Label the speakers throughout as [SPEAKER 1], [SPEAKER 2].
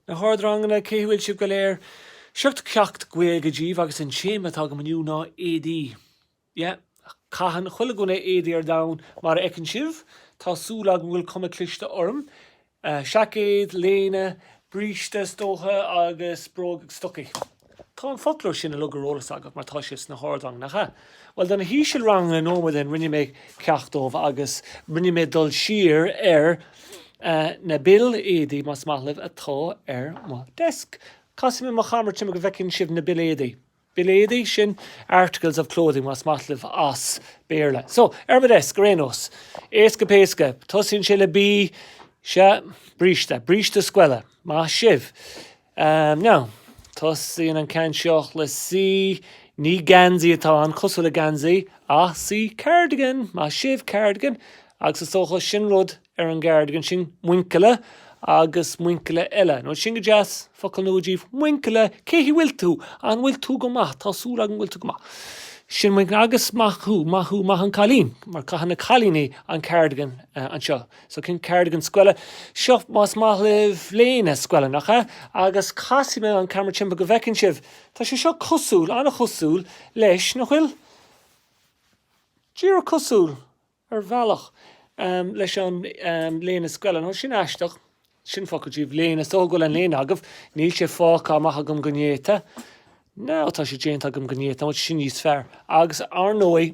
[SPEAKER 1] Na hardranganna, cé a bhfuil sibh go léir? Seo ceacht Gaeilge díbh agus an téama atá agam inniu ná éadaí. Yeah. Caitheann chuile dhuine againn éadaí ar domhan, mar a fheiceann sibh. Tá súil agam go bhfuil cuma cliste orm. Seaicéad, léine, bríste is dócha, agus bróg, stocaí. Tá an foclóir sin uilig ar eolas agat mar tá sé sna hardranganna, nach ea? Bhuel, do na hísealranganna nóiméad ó shin rinne mé ceacht dóibh agus rinne mé dul siar ar na baill éadaí, más maith libh, atá ar mo desk. Casfaidh mé mo chamera timpeall go bhfeicfidh sibh na baill éadaí. Baill éadaí? Sin articles of clothing, más maith libh, as Béarla. So, ar mo desk, ar aon nós. Éasca péasca. Tosaíonn sé le B. Sea, bríste. Bríste scoile. Maith sibh. Now, tosaíonn an ceann seo le C. Ní geansaí atá ann, cosúil le geansaí, ach C. Cardigan, maith sibh, Cardigan, agus is dócha sin rud ar an gcardigan sin, muinchille agus muinchille eile. Now sin go deas, focal nua díbh, muinchille, cén chaoi bhfuil tú? An bhfuil tú go maith? Tá súil agam go bhfuil tú go maith. Sin muinchille, agus maith thú, maith thú, maith an cailín, mar caitheann na cailíní an cardigan anseo. So sin cardigan scoile seo más maith libh léine scoile, nach ea? Agus casfaidh mé an camera timpeall go bhfeiceann sibh. Tá sé seo cosúil, an-chosúil leis, nach bhfuil? Díreach cosúil, ar bhealach, leis an léine scoile. Now sin aisteach. Sin focal díbh, léine. Is dócha go bhfuil an léine agaibh. Níl sé fágtha amach agam go néata. Nó tá sé déanta agam go néata, sin níos fearr. Agus, ar ndóigh.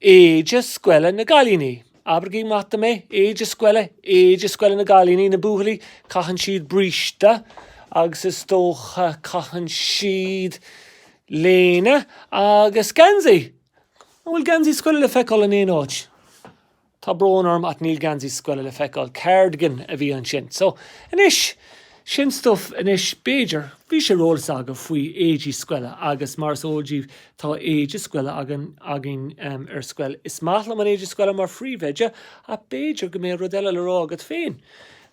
[SPEAKER 1] éide scoile na gcailíní. Abraigí amach dom é. Éide scoile, éide scoile na gcailíní, na buachaillí, caitheann siad bríste agus is dócha caitheann siad léine agus geansaí. An bhfuil geansaí scoile le feiceáil in aon áit? Tá brón orm ach níl geansaí scoile le feiceáil. Cardigan a bhí ansin. So, anois. Sin stuif anois b'fhéidir. Bhí sé ar eolas agaibh faoi éadaí scoile agus mar is eol díbh tá éide scoile againn againn ar scoil. Is maith liom an éide scoile mar phríomhoide ach b'fhéidir go mbeidh rud eile le rá agat féin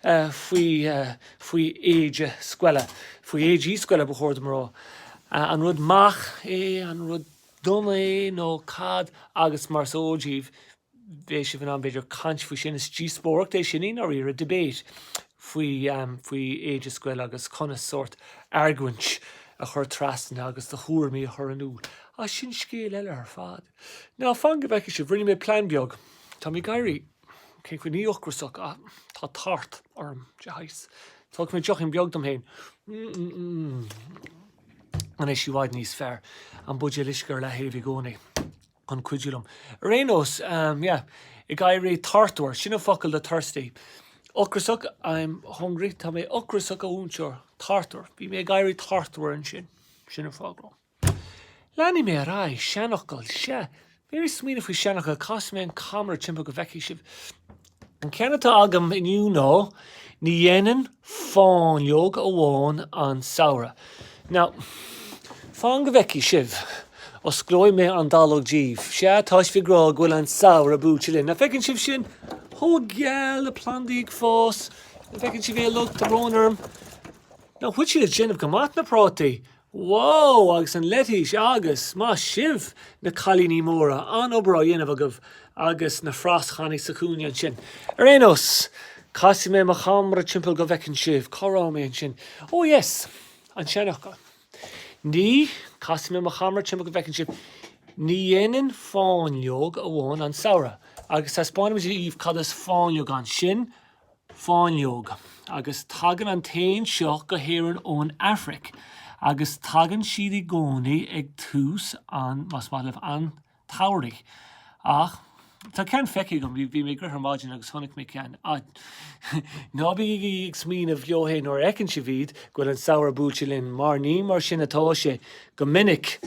[SPEAKER 1] faoi faoi éide scoile. Faoi éadaí scoile ba chóir dom a rá. An rud maith é, an rud dona é nó cad agus mar is eol díbh. bheadh sibh in ann b'fhéidir caint faoi sin. Is díospóireacht é sin i ndáiríre, debate, faoi, faoi éide scoile agus conas sórt argóint a chur trasna agus do thuairimí a chur in iúl. Ach sin scéal eile ar fad. Now, fan go bhfeicfidh sibh, rinne mé plean beag. Tá mé ag éirí, cén chaoi, ní ocrasach ach tá tart orm de shaghas. Tógfaidh mé deochín beag dom féin. Mmm. Anois i bhfad níos fearr? An buidéal uisce ar leathaobh i gcónaí. chun cuidiú liom. Ar aon nós, yeah, ag éirí tartmhar, sin an focal do thirsty. Ocrasach, I'm hungry. Tá mé ocrasach, a mhúinteoir. Tartmhar. Bhí mé ag éirí tartmhar ansin. Sin an fáth go. Leanfaidh mé ar aghaidh. Seanfhocal, sea. Bhí mé ag smaoineamh faoi sheanfhocal. Casfaidh mé an camera timpeall go bhfeicfidh sibh. An ceann atá agam inniu ná, ní dhéanann fáinleog amháin an samhradh. Now, fan go bhfeicfidh sibh. Osclóidh mé an dallóg daoibh. Sea, tá sibh ag rá go bhfuil an samhradh buailte linn. Nach bhfeiceann sibh sin? Chomh geal, na plandaí ag fás. Nach bhfeiceann sibh é? Lucht an bhróin orm? Nach bhfuil siad ag déanamh go maith, na prátaí. Whoa! Agus an leitís! Agus, maith sibh, na cailíní móra. An-obair á dhéanamh agaibh agus na frasanna sa chúinne ansin. Ar aon nós, casfaidh mé mo cheamara timpeall go bhfeiceann sibh. Cá raibh mé ansin? Ó yes! An seanfhocal. Ní, casfaidh mé mo cheamara timpeall go bhfeiceann sibh, ní dhéanann fáinleog amháin an samhradh. Agus taispeánfaidh mé daoibh cad is fáinleog ann. Sin fáinleog, agus tagann an t-éan seo go hÉirinn ón Afraic, agus tagann siad i gcónaí ag tús an, más maith libh, an tsamhraidh. Ach tá ceann feicthe agam, bhí mé ag rith ar maidin agus chonaic mé ceann. Ná bígí ag smaoineamh go háithrid nuair a fheiceann sibh iad, go bhfuil an samhradh buailte linn, mar ní mar sin atá sé, go minic.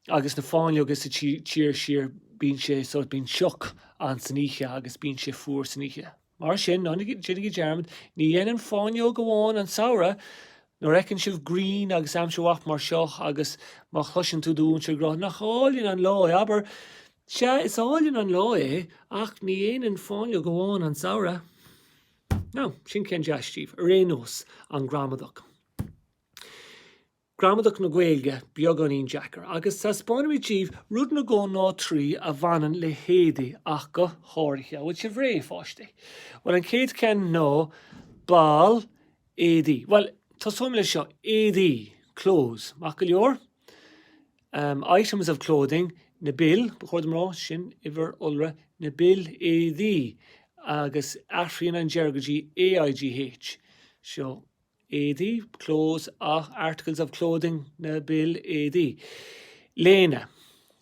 [SPEAKER 1] agus na fáinleoga sa tír, sure bíonn sé sórt, bíonn sioc ann san oíche agus bíonn sé fuar san oíche. Mar sin, ná déanaigí dearmad, ní dhéanann fáinleog amháin an samhradh! Nuair a fheiceann sibh grian agus aimsir mhaith mar seo agus má chloiseann tú do mhúinteoir ag rá, Nach álainn an lá é, abair, Sea, is álainn an lá é, ach ní dhéanann fáinleog amháin an samhradh! Now, sin ceann deas daoibh. Ar aon nós, an ghramadach. Gramadach na Gaeilge beagáinín deacair, agus taispeánfaidh mé daoibh rud nó dhó nó trí a bhaineann le héadaí ach go háirithe. An bhfuil sibh réidh, a pháistí? Bhuel, an chéad cheann ná ball éadaigh. Bhuel, tosóidh mé leis seo, éadaí, clothes. Maith go leor. Umm, items of clothing, na baill, ba chóir dom a rá, sin uimhir iolra, na baill éadaigh, agus athraíonn an deireadh go dtí AIGH. Seo. éadaí, clothes, ach, articles of clothing, na baill éadaigh. léine,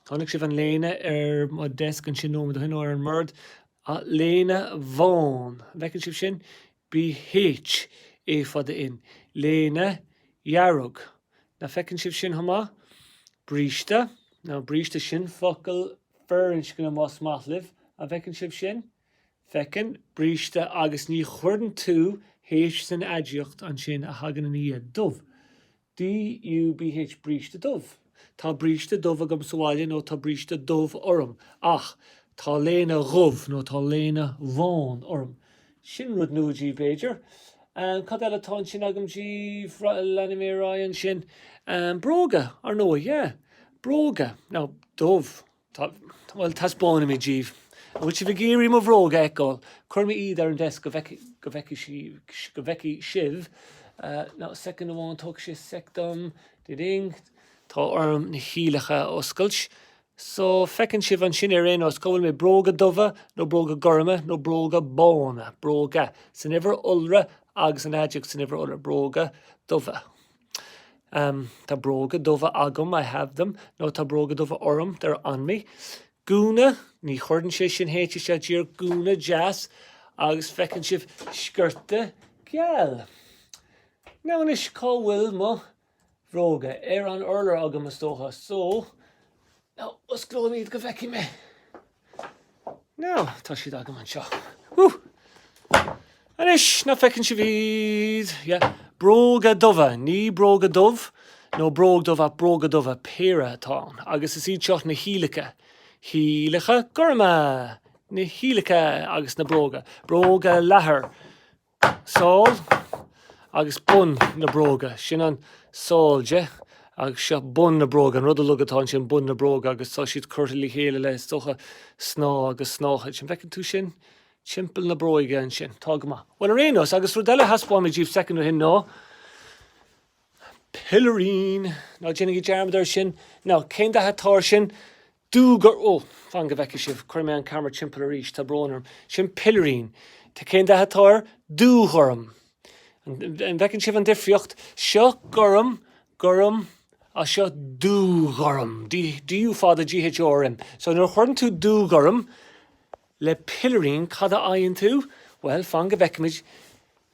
[SPEAKER 1] Chonaic sibh an léine ar mo desk ansin nóiméad ó shin, nó ar an mbord. léine bhán, an bhfeiceann sibh sin? bh. á fada n. léine dhearg, nach bhfeiceann sibh sin chomh maith? bríste, Now bríste, sin focal firinscne más maith libh, an bhfeiceann sibh sin? Feiceann, bríste agus ní chuireann tú H san aidiacht ansin a thagann ina dhiaidh, dubh. DUBH Bríste dubh. Tá bríste dubh agam sa bhaile nó Tá bríste dubh orm. Ach Tá léine dhubh nó Tá léine bhán orm. Sin rud nua díbh, b'fhéidir. Cad eile atá ansin agam díbh? Leanfaidh mé ar aghaidh ansin. Bróga, ar ndóigh, yeah. Bróga. Now, dubh. Bhuel, taispeánfaidh mé díbh. An bhfuil sibh ag iarraidh mo bhróga a fheiceáil? Cuirfidh mé iad ar an desk go bhfeicfidh, go bhfeicfidh sí, go bhfeicfidh sibh. Now, soicind amháin, tógfaidh sé soic dom. Di-ding. Tá orm na hiallacha a oscailt. So, feiceann sibh ansin ar aon nós, cá bhfuil mé? Bróga dubha, nó bróga gorma, nó bróga bána? Bróga, san uimhir iolra, agus an aidiacht san uimhir iolra. Bróga dubha. Um. Tá bróga dubha agam, I have them. Nó Tá bróga dubha orm, they're on me. Gúna, Ní chuireann sé sin H isteach díreach. Gúna deas. Agus feiceann sibh sciorta geal. Now anois, cá bhfuil mo bhróga? Ar an urlár agam, is dócha. So. Now, osclóidh mé iad go bhfeicfidh mé. Now, tá siad agam anseo. Woo! Anois, now feiceann sibh iad. Yeah. Bróga dubha, ní bróga dubh, nó bróg dubh ach bróga dubha péire atá ann. Agus is iad seo na hiallacha. Hiallacha gorma! Na hiallacha agus na bróga. Bróga leathair. Sál agus bun na bróga. Sin an sál de, agus seo bun na bróga. An rud uilig atá ansin bun na bróga, agus tá siad curtha le chéile le, is dócha, snáth agus snáthaid. An bhfeiceann tú sin? Timpeall na bróige ansin. Tá go maith. Bhuel, ar aon nós, agus rud eile a thaispeáin mé díbh soicind ó shin ná pilirín. Ná déanaigí dearmad air sin. Now, cén dath atá air sin? Dúghor, ó, fan go bhfeicfidh sibh, cuirfidh mé an ceamara timpeall arís, tá brón orm, sin pilirín, tá, cén dath atá air? Dúghorm. An bhfeiceann sibh an difríocht? Seo gorm, gorm, á seo dúghorm, DÚ fada GHORM. So, nuair a chuireann tú dúghorm le pilirín, cad a fhaigheann tú? Bhuel, fan go bhfeicfimid.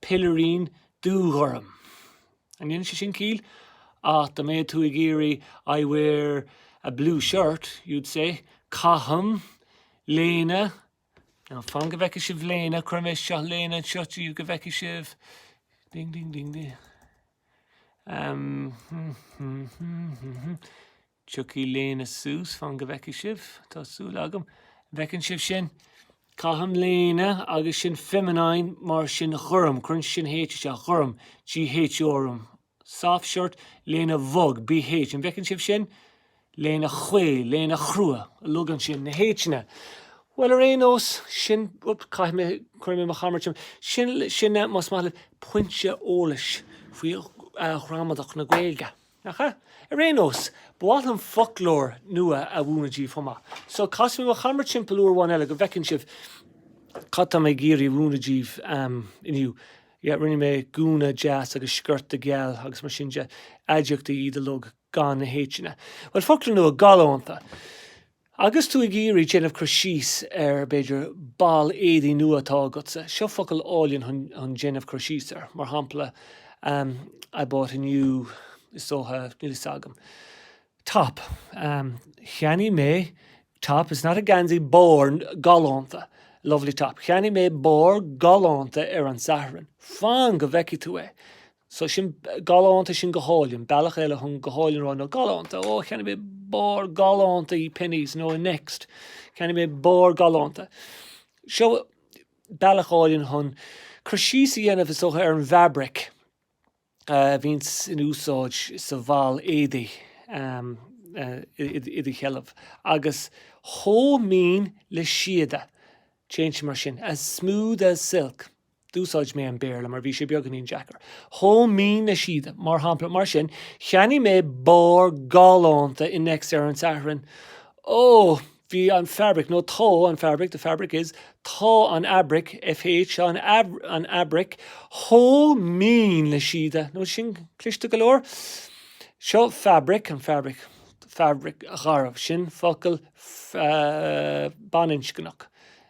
[SPEAKER 1] Pilirín dúghorm. An ndéanann sé sin ciall? Ach dá mbeadh tú ag iarraidh I wear a blue shirt, you'd say Caithim léine Now fan go bhfeicfidh sibh léine, cuirfidh mise léine anseo díbh go bhfeicfidh sibh ding ding ding ding. Tiocfaidh léine suas, fan go bhfeicfidh sibh, tá súil agam. An bhfeiceann sibh sin. Caithim léine agus sin feminine mar sin ghorm, cuireann sin H isteach, ghorm, gh ghorm. Soft shirt, léine bhog, bh, an bhfeiceann sibh sin? Léine chaol, léine chrua, uilig ansin, na h-anna. Bhuel ar aon nós, sin, op, caithfidh mé, cuirfidh mé mo cheamara orm, sin é, más maith libh, pointe eolais faoi ghramadach na Gaeilge. Nach ea? Ar aon nós, ba mhaith liom foclóir nua a mhúineadh díbh chomh maith. So, casfaidh mé mo cheamara timpeall uair amháin eile go bhfeiceann sibh cad tá mé ag iarraidh a mhúineadh díbh inniu. Yeah, rinne mé gúna deas agus sciorta geal agus mar sin de. Aidiachtaí iad uilig gan na h-anna. Bhuel, foclóir nua, galánta. Agus tú ag iarraidh déanamh cur síos ar, b'fhéidir, ball éadaigh nua atá agatsa, seo focal álainn chun déanamh cur síos air, mar shampla, I bought a new, is dócha, níl fhios agam, top, Cheannaigh mé top, is not a geansaí, barr galánta, lovely top, Cheannaigh mé barr galánta ar an Satharn. Fan go bhfeicfidh tú é. So sin galánta, sin go hálainn. Bealach eile chun go hálainn a rá ná galánta. Ó, cheannaigh mé barr galánta i Penneys nó i Next. Cheannaigh mé barr galánta. Seo bealach álainn chun cur síos a dhéanamh, is dócha, ar an bhfeabraic a bhíonns in úsáid sa bhall éadaigh i do sheilbh. Agus chomh mín le síoda. Téann sé mar sin. As smooth as silk. D'úsáid mé an Béarla mar bhí sé beagáinín deacair. Chomh mín le síoda, mar shampla. Mar sin, cheannaigh mé barr galánta i Next ar an Satharn. Ó! Bhí an fabraic, nó tá an fabraic, the fabric is, tá an fhabraic, fh, an, an fhabraic, chomh mín le síoda. Now sin cliste go leor. Seo fabraic, an fhabraic, fhabraic gharbh, sin focal baininscneach.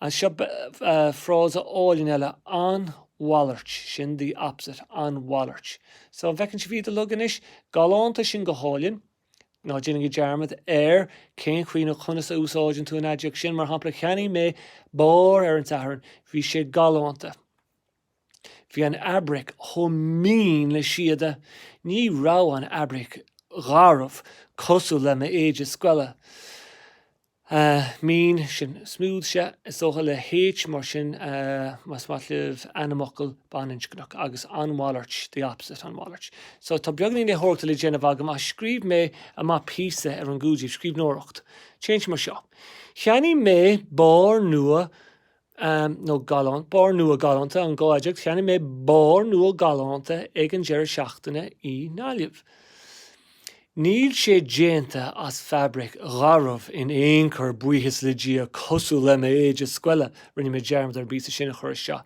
[SPEAKER 1] Anseo frása álainn eile, an mhalairt, sin the opposite, an mhalairt. So an bhfeiceann sibh iad uilig anois? Galánta, sin go hálainn. Ná déanaigí dearmad ar cén chaoi nó conas a úsáideann tú an aidiacht sin. Mar shampla, cheannaigh mé barr ar an tSatharn. Bhí sé galánta. Bhí an fhabraic chomh mín le síoda. Ní raibh an fhabraic gharbh cosúil le m'éide scoile. Mín, sin smooth so, is dócha le H mar sin más maith libh ainmfhocal baininscneach agus an mhalairt, the opposite an mhalairt. So tá beagainín léitheoireachta le déanamh agam a scríobh mé amach píosa ar an gcóipleabhar, scríbhneoireacht. Téann sé mar seo, Cheannaigh mé barr nua Nua, nó galánta, barr nua galánta an aidiacht, cheannaigh mé barr nua galánta ag an deireadh seachtaine i nGaillimh. Níl sé déanta as fabraic gharbh in aon chor, buíochas le Dia, cosúil le m'éide scoile, rinne mé dearmad ar an bpíosa sin a chur isteach.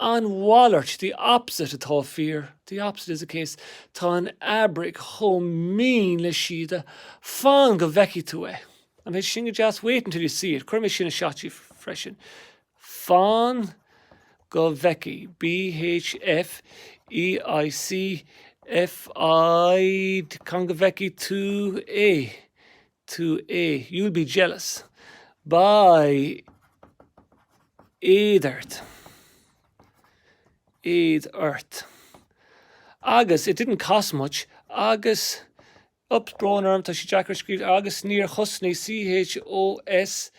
[SPEAKER 1] An mhalairt, the opposite, atá fíor, the opposite is the case, tá an fhabraic chomh mín le síoda, fan go bhfeicfidh tú é! An é sin go deas? Wait until you see it. Cuirfidh mé sin anseo freisin. Fan go bhfeicfidh. BH F EI C FID Fan go bhfeicfidh tú é? tú é. You'll be jealous. Beidh éad ort. éad ort. Agus, it didn't cost much, agus Oops, brón orm, tá sé deacair scríobh agus níor chosnaigh CHOS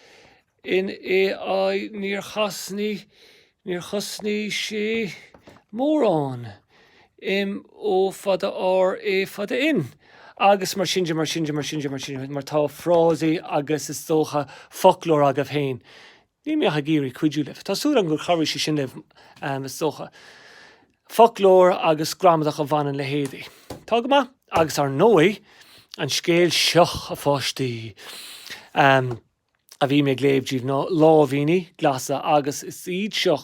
[SPEAKER 1] in AI, níor chosnaigh, níor chosnaigh sé mórán im ó fada ár é fada in. Agus mar sin de, mar sin de, mar sin de, mar sin de, mar tá frásaí agus is dócha foclóir agaibh féin, Níl mé ach ag iarraidh cuidiú libh. Tá súil agam gur chabhraigh sé sin libh, is dócha. Foclóir agus gramadach a bhaineann le héadaí. Tá go maith. Agus ár ndóigh, an scéal seo, a pháistí, a bhí mé ag léamh díbh ná, Láimhíní Glasa. Agus is iad seo,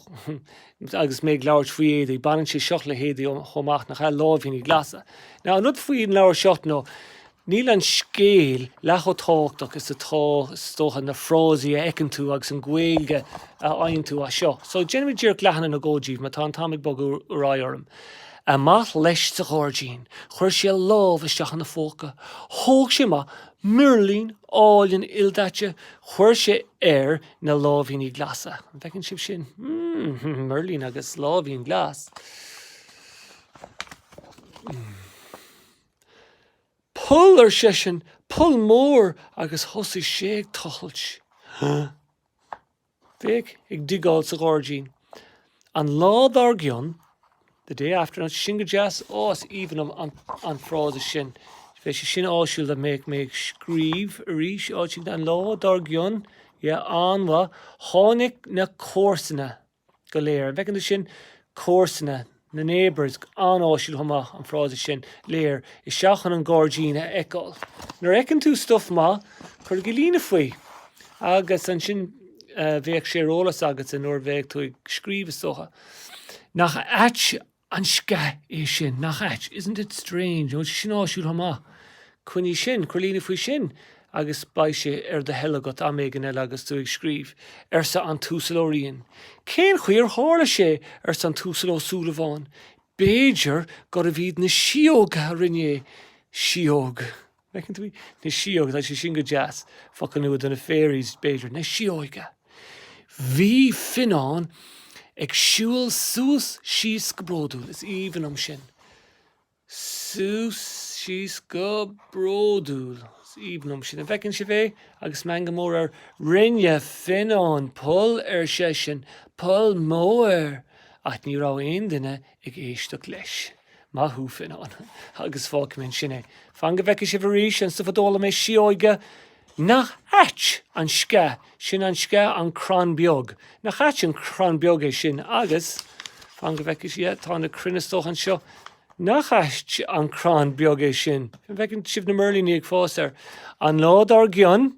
[SPEAKER 1] agus mé ag labhairt faoi éadaí, baineann sé seo le héadaí chomh maith, nach ea? Láimhíní Glasa. Now, an rud faoin leabhar seo nó, Níl an scéal leath chomh tábhachtach is atá, is dócha, na frásaí a fheiceann tú agus an Ghaeilge a fhaigheann tú as seo. So, déanfaimid díreach leathanach nó dhó díbh, mar tá an t-am ag bogadh ar aghaidh orm. Amach leis sa ghairdín. Chuir sé a lámh isteach ina phóca. Thóg sé amach mirlín álainn ildaite. Chuir sé air na láimhíní glasa. An bhfeiceann sibh sin? Hmm. Mirlín agus láimhín glas. Hmm. Poll, ar seisean, poll mór agus thosaigh sé ag tochailt. Féach, ag digeáil sa ghairdín. An lá dár gcionn, the day after, nach é sin go deas? Ó, is aoibhinn liom an frása sin. Beidh sé sin áisiúil dá mbeadh mé ag scríobh arís, áit éigin, an lá dár gcionn. Yeah, an-mhaith. Tháinig na comharsana. go léir. An bhfeiceann tú sin comharsana, na neighbours, an-áisiúil chomh maith, an frása sin, léir, isteach chun an gairdín a fheiceáil. Nuair a fheiceann tú stuif maith, cuirigí líne faoi, agus ansin bheadh sé ar eolas agat nuair a bheadh tú ag scríobh, is dócha. Nach ait An sceach é sin? Nach ait? Isn't it strange? Now sin áisiúil chomh maith. Coinnigh sin, cuir líne faoi sin agus beidh sé ar do thoil agat am éigin eile agus tú ag scríobh, arsa an tUasal Ó Riain. Cén chaoi ar tharla sé? arsa an tUasal Ó Súilleabháin. B'fhéidir gurbh iad na síóga a rinne é. Síóga! Feiceann tú í? Na síóga. Tá sé sin go deas. Focal nua do na fairies, b'fhéidir. Na síóga! Bhí Fionnán ag siúl suas síos go bródúil. Is aoibhinn liom sin. Suas síos go bródúil. Is aoibhinn liom sin. An bhfeiceann sibh é? Agus meangadh mór air. Rinne Fionnán poll, ar seisean. Poll mór! Ach ní raibh aon duine ag éisteacht leis. Maith thú, Fionnán. Agus fágfaidh mé ansin é. Fan go bhfeice sibh arís, anseo fadó, lámh na sióige? Nach ait an sceach sin, an sceach, an crann beag. Nach ait an crann beag é sin agus, fan go bhfeice yeah tá na crainn is dócha anseo Nach ait an crann beag é sin. An bhfeiceann sibh na mirlíní ag fás air? An lá dár gcionn,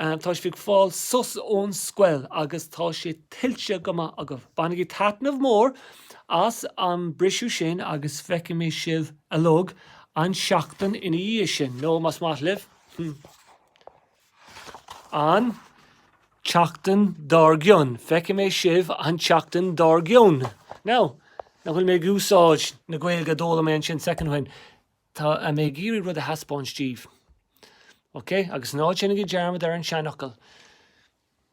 [SPEAKER 1] Tá sibh ag fáil sos ón scoil agus tá sé tuillte go maith agaibh. Bainigí taitneamh mór as an mbriseadh sin agus feicfidh mé sibh uilig an tseachtain ina dhiaidh sin, nó más maith libh, an tseachtain dár gcionn. Feicfidh mé sibh an tseachtain dár gcionn. Now, nach bhfuil mé ag úsáid na Gaeilge a d'fhoghlaim mé ansin soicind ó shin. Tá mé ag iarraidh rud a thaispeáint díbh. Ok? Agus ná déanaigí dearmad ar an seanfhocal.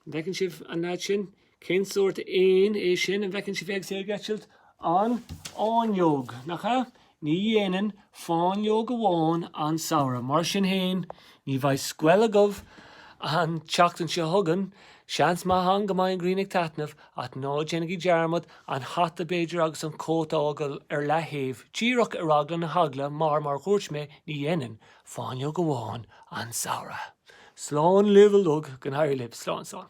[SPEAKER 1] An bhfeiceann sibh an lead sin? Cén sórt éan é sin? An bhfeiceann sibh é agus é ag eitilt? An áinleog, nach ea? Ní dhéanann fáinleog amháin an samhradh. Mar sin féin, ní bheidh scoil agaibh an tseachtain seo chugainn. Seans maith ann go mbeidh an ghrian ag taitneamh, Ach ná déanaigí dearmad, an hata b'fhéidir agus an cóta a fhágáil ar leaththaobh, díreach ar eagla na heagla, mar, mar a dhúirt mé, ní dhéanann, fáinleog amháin, an Samhradh. Slán libh uilig, go n-éirí libh. Slán, slán.